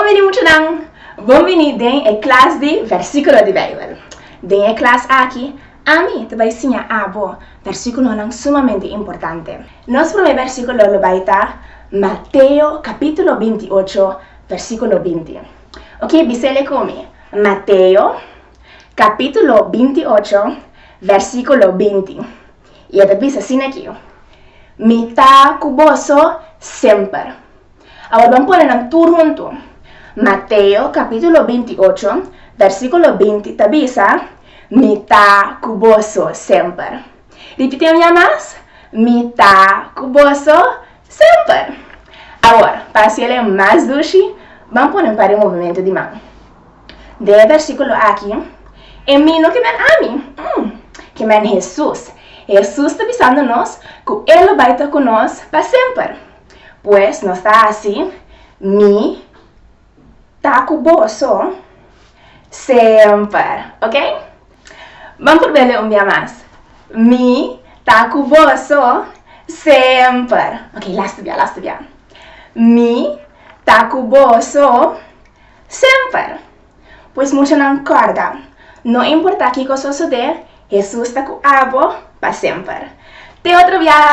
Bonbini muchanan! Bon bini den e klas di Versíkulo di Beibel. Den e klas aki, ami ta bai siña abo versíkulonan sumamente importante. Nos promé versíkulo lo bai ta Mateo kapítulo binti i ocho, versíkulo binti. Oke, bis'é lé ku mi. Mateo kapítulo binti i ocho, versíkulo binti. I e ta bisa sin aki, Mi ta ku boso semper. Awor ban pone nan tur huntu. Mateo kapítulo binti i ocho, vèrsikulo binti ta bisa, Mi ta ku boso semper. Ripitié un ya mas, Mi ta ku boso semper. Awor, pa hasiel e mas dushi, ban pone un par di movimentu di man. De e versíkulo aki, E mi no ke men ami, mm, ke men Hesus. Hesus ta bisando nos ku e lo bai ta ku nos pa semper. Pues nos ta hasi Mi ta ku boso semper. Oke? Ban prob'é lei un bia mas. Mi ta ku boso semper. Oke, lasta bia, lasta bia. Mi ta ku boso. Semper! Pues mushanan kòrda, no importá kiko sosodé, Hesus ta ku abo pa semper. Te otro biaha!